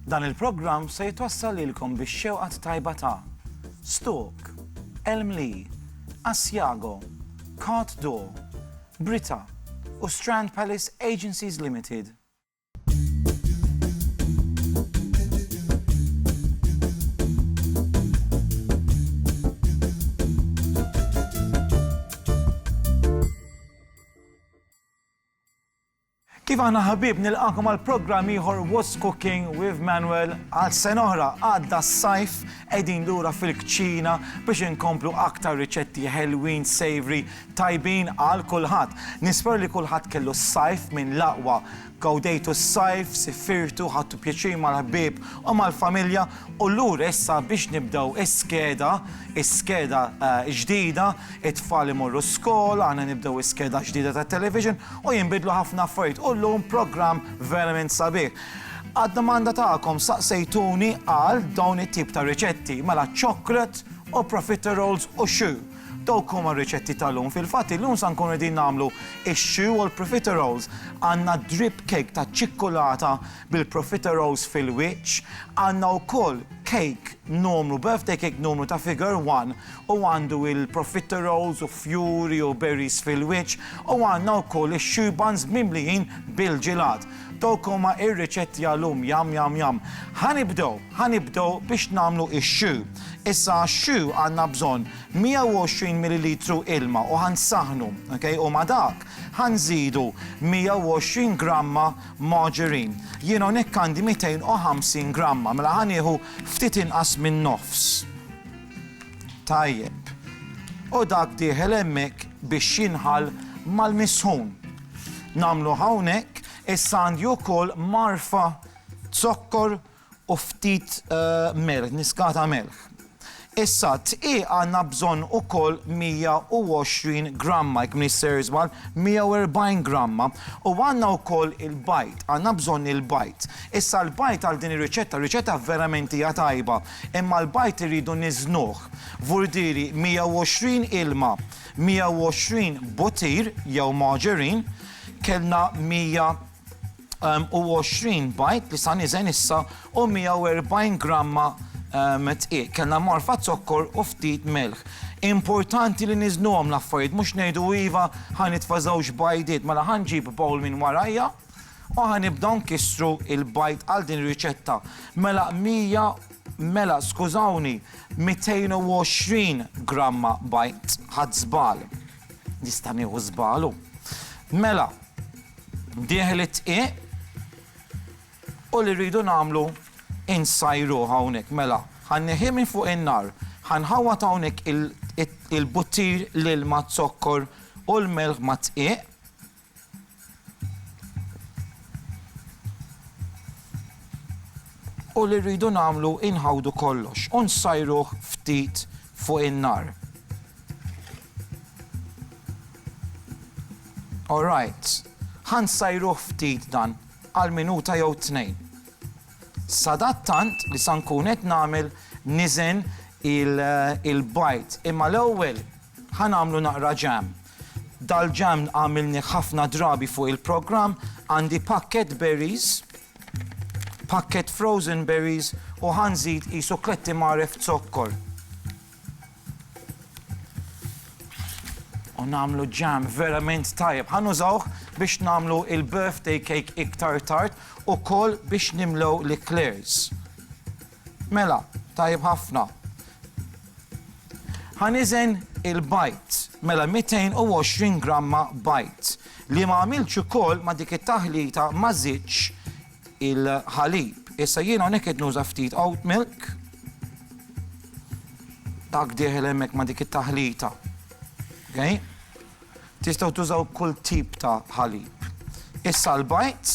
Dan il-programm se jitwassal lilkom bix-xewqat tajba ta' Stok, Elmli, Asiago, Cart Door, Brita u Strand Palace Agencies Limited. Kif aħna ħabib nilqakom għal programm ieħor What's Cooking with Manuel għal sena oħra għadda s-sajf qegħdin lura fil-kċina biex inkomplu aktar riċetti ħelwin savory tajbin għal kulħadd. Nispera li kulħadd kellu s-Sajf minn l-aqwa. Gawdejtu s-Sajf, sifirtu, ħadtu pjaċir mal-ħbieb u mal-familja u lura issa biex nibdew is-skeda, is-skeda ġdida, it-tfal imorru skola, aħna nibdew is-skeda ġdida tat-television u jinbidlu ħafna affarijiet u llum programm verament sabiħ. Għad-domanda tagħkom saqsejtuni għal dawn it-tip ta' riċetti, mela chocolate u profiteroles u xu. Dawk huma r-riċetti tal-lum. Fil-fatt illum sa nkunu qegħdin nagħmlu x-xi u l-profiteroles. Għandna drip cake taċ-ċikkulata bil-profiteroles fil-wiċċ. Għandna wkoll cake numru, birthday cake numru ta' figure one u għandu l-profiteroles u fjuri u berries fil-wiċċ u għandna wkoll ix-xi buns mimlijin bil-ġilat. Dawk huma r-riċetti għal-lum. Yum yum yum. Ħa nibdew, ħa nibdew biex nagħmlu x-xi. Issa għax-xhu għandna bżonn 120 millilitru ilma u ħa nsaħħnu, ok, u ma' dak ħa nżidu 120 gramma margarine. Jien hawnhekk għandi 250 gramma, mela ħa nieħu ftit inqas min-nofs. Tajjeb. U dak dieħel hemmhekk biex jinħall mal-misħun. Nagħmluh hawnhekk, issa għandi wkoll magħrfa zokkor u ftit melħ, niskata melħ. Issa d-dqiq għandna bżonn ukoll 120 gramma, jekk m'iniex ser żball, 140 gramma. U għandna wkoll il-bajd, għandna bżonn il-bajd. Issa l-bajd għal din ir-riċetta, r-riċetta verament hija tajba, imma l-bajd irridu niżnuh f'vurdieri 120 ilma, 120 butir jew margarine, kellna 100, u 20 bajd li sa niżen issa u 140 gramma tqiegħ. Kellna morfa zokkor u ftit melħ. Importanti li niżnuhom l-affarijiet mhux ngħidu iva ħa nitfa' żewġ bajdiet mela ħa nġib bowl minn warajja u ħa nibdew nkissru l-bajd għal din ir-riċetta. Mela 100 mela skużawni 220 gramma bajd, ħadt żball. Nista' nieħu żball hu. Mela, dieħel it-tqiegħ u li rridu nagħmlu insajru hawnhekk. Mela, ħanneħi minn fuq in-nar, ħanħawwad hawnhekk il-buttir l-ilma zokkor u l-melħ mat-tqiegħ U li rridu nagħmlu hi nħawdu kollox u nsajruh ftit fuq in-nar. All right. Ħa nsajruh ftit dan għal minuta jew tnejn. Sadattant li sa nkun qed nagħmel niżen il-bajd. Imma l-ewwel ħa nagħmlu naqra ġam. Dal-ġann għamilnih ħafna drabi fuq il-programm, għandi pakkett berries, pakkett frozen berries u ħa nżid qisu kletti mgħaref zokkor. U nagħmlu ġam verament tajjeb. Ħa nużawh biex nagħmlu il-birthday cake iktar tard ukoll biex nimlew l-eclairs. Mela, tajjeb ħafna. Ħa niżen il-bajd, mela 220 gramma bajd, li ma għamiltx ukoll ma' dik it-taħlita ma żidtx il-ħalib. Issa jien hawnhekk qed nuża ftit oat milk. Dak dieħel hemmhekk ma' dik it-taħlita. Okay? Tistgħu tużaw kull tip ta' ħalib. Issa l-bajd,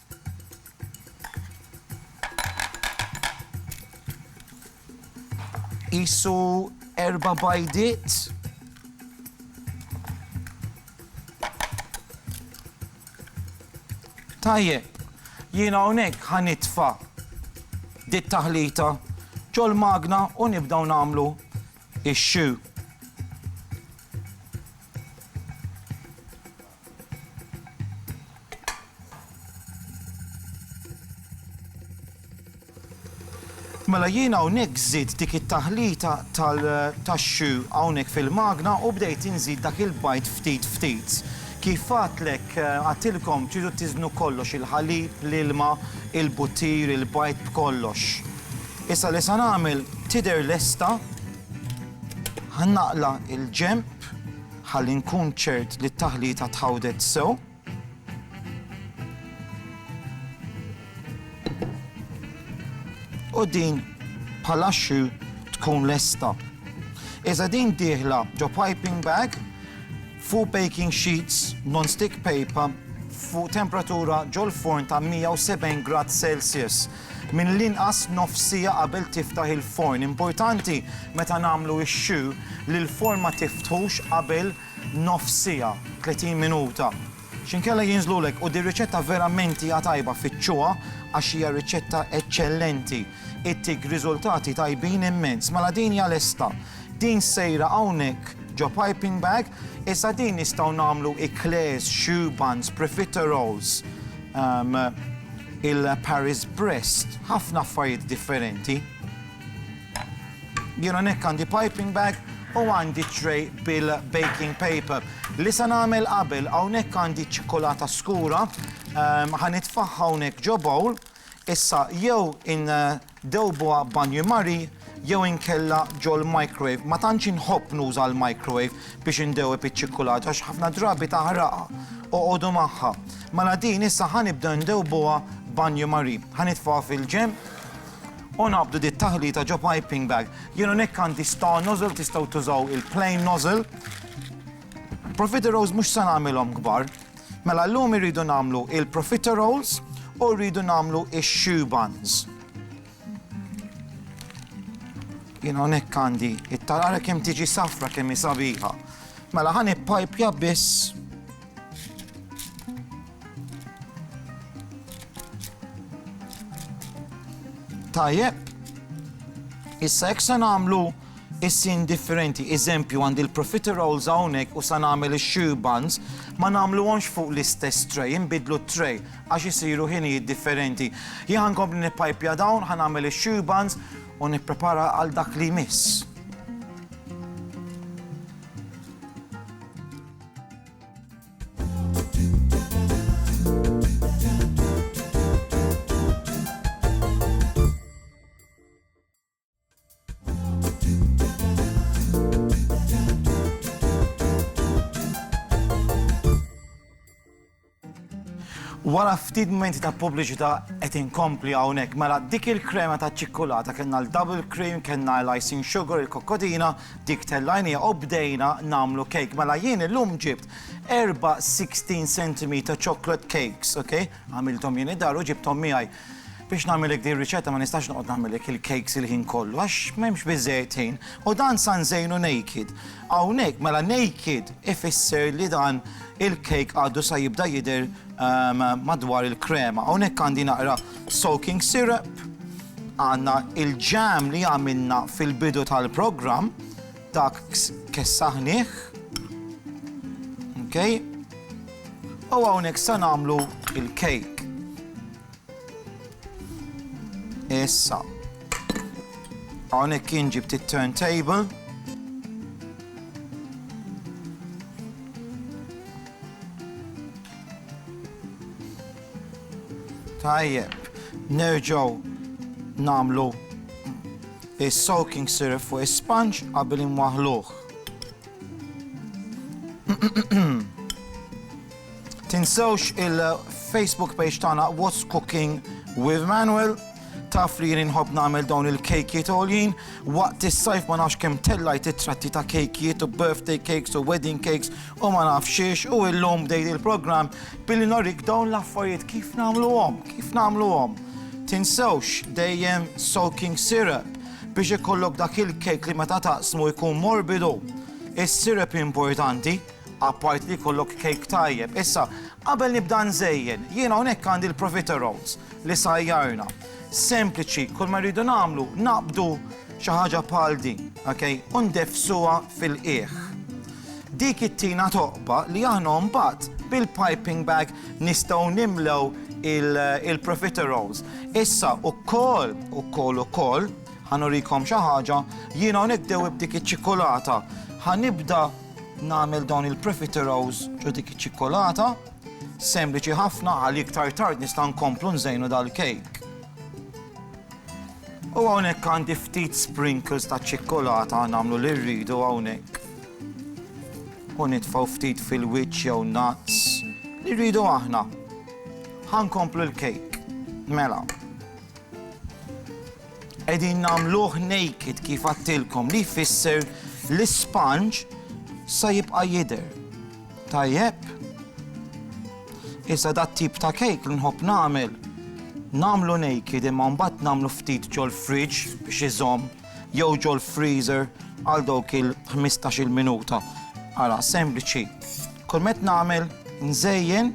Qisu erba' bajdiet. Tajjeb, jien hawnhekk ħa nitfa' dit taħlita ġol-magna u nibdew nagħmlu ix-xu. Mela jien hawnhekk żidt dik it-taħlita tal-chou hawnhekk fil-magna u bdejt inżid dak il-bajd ftit ftit. Kif għadtlek, għadtilkom tridu tiżnu kollox, il-ħalib, l-ilma, il-buttir, il-bajd b'kollox. Issa li se nagħmel tidher lesta, ħa naqla' il-ġenb. Ħalli nkun ċert li t-taħlita tħawdet sew. U din bħala xxu tkun lesta. Iżda din dieħla ġo piping bag fuq baking sheets non-stick paper fuq temperatura ġol-forn ta' 170 grad Celsius. mill-inqas nofs siegħa qabel tiftaħ il-forn. Importanti meta nagħmlu x-choux li l-forn ma tiftħux qabel nofs siegħa, 30 minuta, x'inkella jinżlulek u dir-riċetta verament hija tajba fittxuha għax hija riċetta eċċellenti, ittik riżultati tajbin immens. Mela din hija lesta. Din sejra hawnhekk ġo piping bag, issa din nistgħu nagħmlu eclairs, choux buns, profiteroles. il-Paris Brest, ħafna affarijiet differenti. Jien hawnhekk għandi piping bag u għandi tray bil-baking paper. Li se nagħmel qabel hawnhekk għandi ċikkulata skura, ħanitfaħħa hawnhekk ġo bowl, issa jew in Dewbuha b'banju mari jew inkella ġol-microwave. Ma tantx inħobb nuża l-microwave biex indewweb iċ-ċikkulata għax ħafna drabi taħraqha. Oqogħdu magħha. Mela din issa ħa nibdew ndewbuha b'banju mari. Ħa nitfgħuha fil-ġenb u naqbdu dit-taħlita ġo piping bag. Jien hawnhekk għandi star nozzle, tistgħu tużaw il-plain nozzle. Profiterolls mhux se nagħmilhom kbar. Mela llum irridu nagħmlu il-profiteroles u rridu nagħmlu ix-shoe buns. Jien hawnhekk għandi it-tarara kemm tiġi safra kemm hi sabiħa. Mela ħan ippajpja biss Tajjeb, issa jekk se nagħmlu Issi indifferenti, eżempju għandi l-profiteroles hawnhekk u sa nagħmel ix-shear buns, ma nagħmluhomx fuq l-istess tray, inbiddlu t-tray għax isiru ħinijiet differenti. Jien ħa nkompli nippajpja dawn, ħa nagħmel ix-shear buns u nipprepara għal dak li jmiss. Wara ftit momenti ta' pubbliċità qed inkompli hawnhekk mela dik il-krema ta' ċikkulata kellna l-double cream, kellna l-icing sugar, il-kokkotina, dik tellajnija u bdejna nagħmlu cake. Mela jien illum ġibt erba' 16 cm chocolate cakes, ok? Għamilthom jien id-dar u ġibthom miegħi. Biex nagħmilek din ir-riċetta ma nistax noqgħod nagħmilek il-cakes il-ħin kollu għax m'hemmx biżżejjed ħin u dan sa nżejnu naked. Hawnhekk mela naked ifisser li dan il-cake għadu sa jibda jidher ehm, madwar il-krema. Hawnhekk għandi naqra soaking syrup, għandna il-ġam li għamilna fil-bidu tal-programm, Dak kessaħnieh. Okej. U hawnhekk se nagħmlu il-kejk. Issa. Hawnhekk kien ġibt it-turntable. Tajjeb, nerġgħu nagħmlu is-soaking syrup fuq is-sponge qabel inwaħħluh. Tinsewx il-Facebook page tagħna What's Cooking with Manuel. Taf li jien inħobb nagħmel dawn il-kejkiet għoljin. Waqt is-sajf ma nafx kemm tellajt it-tratti ta' kejkiet u birthday cakes u wedding cakes u ma nafx xiex u illum bdejt il-programm billi norik dawn l-affarijiet kif nagħmluhom, kif nagħmluhom. Tinsewx dejjem soaking syrup biex ikollok dak il-cake li meta taqsmu jkun morbidu. Is-syrup importanti. Apart li jkollok kejk tajjeb. Issa, qabel nibda nżejjen, jien hawnhekk għandi l-profiteroles li sajjarna. Sempliċi, kull ma rridu nagħmlu naqbdu xi ħaġa bħal din, ok, u ndeffsuha fil-qiegħ. Dik ittina toqba li aħna mbagħad bil-piping bag nistgħu nimlew il-profiteroles. Issa ukoll, ukoll, ukoll, ħanurikom xi ħaġa, jien hawnhekk dewwib dik iċ-ċikolata. Ħanibda Nagħmel dawn il-profiteroles u dik iċ-ċikkulata, sempliċi ħafna għal iktar tard nista' nkomplu nżejnu dal-kejk. U hawnhekk għandi ftit sprinkles ta' ċikkulata nagħmlu li rridu hawnhekk. U nitfgħu ftit fil-wiċċ jew nuts li rridu aħna. Ħankomplu l-kejk. Mela. Qegħdin nagħmluh naked kif għadtilkom li jfisser l-ispanġ sa jibqa' jidher. Tajjeb? Issa dat-tip ta' cake li nħobb nagħmel nagħmlu naked imma mbagħad nagħmlu ftit ġol-fridge biex iżomm jew ġol-freezer għal dawk il-ħmistax-il minuta. Ara, sempliċi. Kull meta nagħmel nżejjen,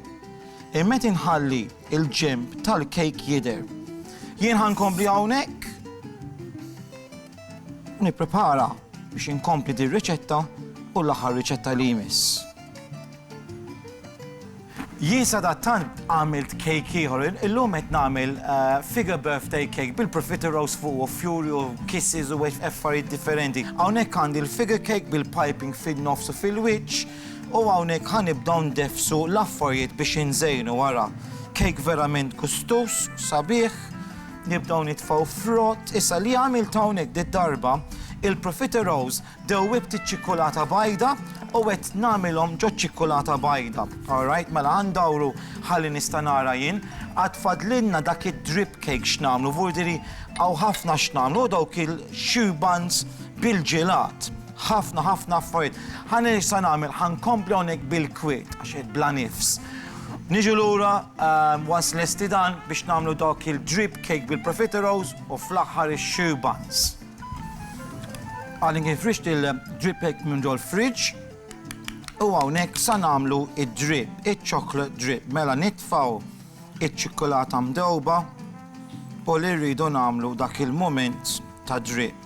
il-meta nħalli. Il-ġenb tal-kejk jidher. Jien ħa nkompli hawnhekk u nipprepara biex inkompli din riċetta u l-aħħar riċetta li jmiss. Jien sadattant għamilt kejk ieħor, illum qed nagħmel eh, figure birthday cake bil-profiter rose fuq u fury u kisses u affarijiet differenti. Hawnhekk għandi l-figure cake bil-piping fin-nofs u fil-wiċċ, U hawnhekk ħa nibdew ndeffsu l-affarjiet biex inżejnu ara cake verament gustuż, sabiħ, nibdew nitfgħu frott, issa li għamilt hawnhekk did-darba, il-profiteroles dewwibt iċ-ċikkulata bajda u qed nagħmilhom ġoċ-ċikkulata bajda, alright, mela ħa ndawru ħalli nista' nara jien, għad fadlilna dak id-drip cake x'nagħmlu, vurdiri hawn ħafna x'nagħmlu, u dawk il-choux buns bil-ġilat. Ħafna, ħafna affarijiet. Ħa ngħid x'sa nagħmel, ħa nkompli hawnhekk bil-kwiet, għax qiegħed bla nifs. Niġu lura once lesti dan biex nagħmlu dawk il-drip cake bil-profiteroles u fl-aħħar ix-sheer buns. Għadni kif frixt il-drip cake minn ġol fridge u hawnhekk sa nagħmlu id-drip, iċ-chocolate drip. Mela nitfgħu iċ-ċikkulata mdewba u li rridu nagħmlu dak il-mument ta' drip.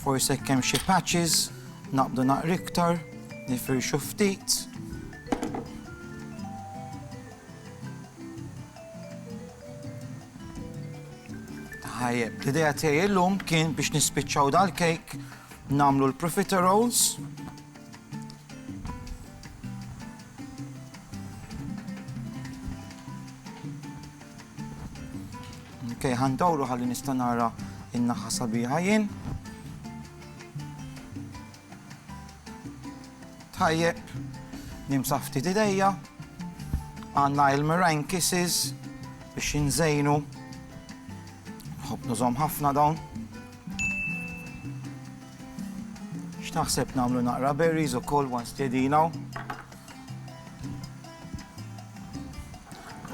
Forsi jekk hemm xi patches naqbdu naqra iktar, nifirxu ftit. Tajjeb, l-idea tiegħi illum kien biex nispiċċaw dal-kejk nagħmlu l-profiteroles. Ok, ħandawru ħalli nista' nara in-naħa sabiħa jien. Tajjeb, nimsaħ ftit idejja, għandna il-meringue kisses biex inżejnu. Nħobb nużhom ħafna dawn. X'naħseb nagħmlu naqra berries ukoll once tedinaw.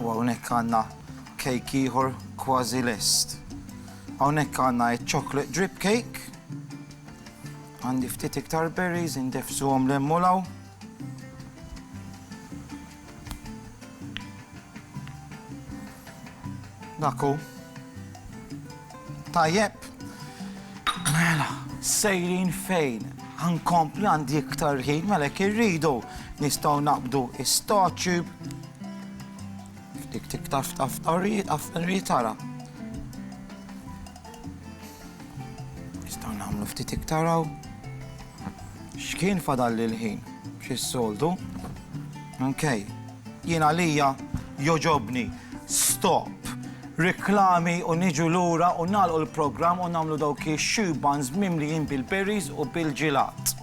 U hawnhekk għandna cake ieħor kważi lest. Hawnhekk għandna ċ-chocolate drip cake. Għandi ftit iktar berries indefsuhom l u law. Naku. Tajjeb. Mela, sejrin fejn? Ħa nkompli għandi iktar ħin, mela jekk irridu nistgħu naqbdu is-startube. Dik tiktar f'taftarriet, afferriet tara. Nistgħu nagħmlu ftit iktar hawn. X'kien fadalli l-ħin, b'xi s-soltu. Ok. Jien għalija jogħġobni stop riklami u niġu lura u nagħlqu l-programm u nagħmlu dawk ix-shoe buns mimlijin bil-berries u bil-ġilat.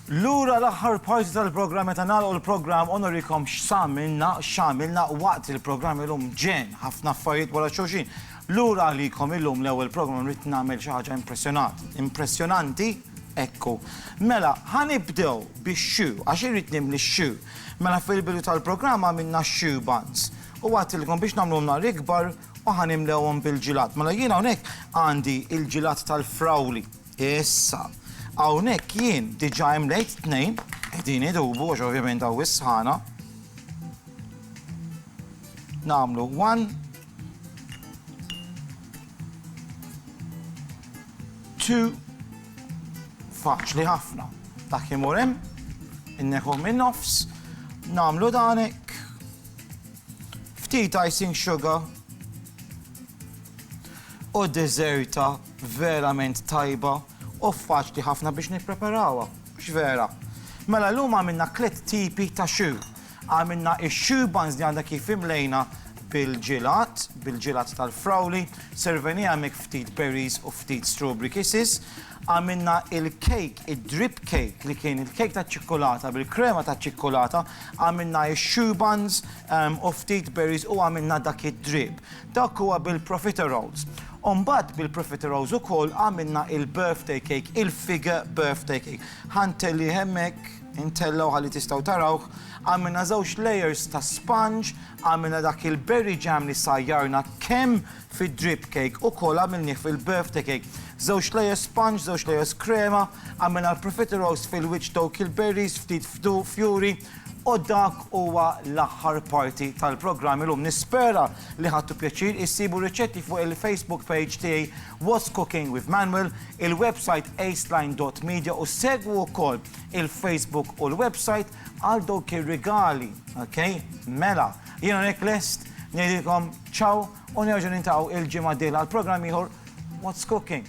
Lura l-aħħar parti tal-programm meta nagħlqu l-programm u norikom x'samilna, x'għamilna waqt il-programm illum ġen ħafna affarijiet wara xulxin. Lura għalikom illum l-ewwel programm rrid nagħmel xi ħaġa impressjonat. Impressjonanti ekku. Mela, ħanibdew bix-xu, għax irrid nimli x-xu. Mela fil-bidu tal-programm għamilna x-xu buns. U wa'għdtilkom biex nagħmluhom nar ikbar u ħa nimlewhom bil-ġilat. Mela jien hawnhekk għandi l-ġilat tal-frawli. Issa, hawnhekk jien diġà imlejt tnejn, qegħdin idubu għax ovvjament hawn is-sħana. Nagħmlu one, two, faċli ħafna. Dak imur hemm, inneħħuh min-nofs, nagħmlu dan hekk, Ftit icing sugar u deżerta verament tajba u faċli ħafna biex nippreparawha, mhux vera? Mela llum għamilna tliet tipi ta' choux. Għamilna x-choux buns li għadna kif imlejna bil-ġilat, bil-ġilat tal-frawli, servenija hemmhekk ftit berries u ftit strawberry kisses, Għamilna il-cake, id-drip cake li kien il-cake taċ-ċikkulata bil-krema taċ-ċikkulata, għamilna x-choux buns u ftit berries u għamilna dak id-drip. Dak huwa bil-profiteroles. U mbagħad bil-profiteroles ukoll għamilna il-birthday cake, il-fige birthday cake. Ħa ntellih hemmhekk, intellgħu ħalli tistgħu tarawh. Għamilna żewġ layers ta' sponge, għamilna dak il-berry jam li sajjarna kemm fid-drip cake ukoll għamilnih fil-birthday cake. Żewġ layer sponge, żewġ layers krema, għamilna l-profiteroles fil-wiċċ dawk il-berries, ftit fdu, fjuri, u dak huwa l-aħħar parti tal-programm illum. Nispera li ħadtu pjaċir, issibu r-riċetti fuq il-Facebook page tiegħi What's Cooking with Manuel, il-website aceline dot media u segwu wkoll il-Facebook u l-website għal dawk ir-rigali, ok? Mela! Jien hawnhekk lest ngħidilkom ciao u nerġgħu niltaqgħu il-ġimgħa d-dieħla għal programm ieħor What's Cooking.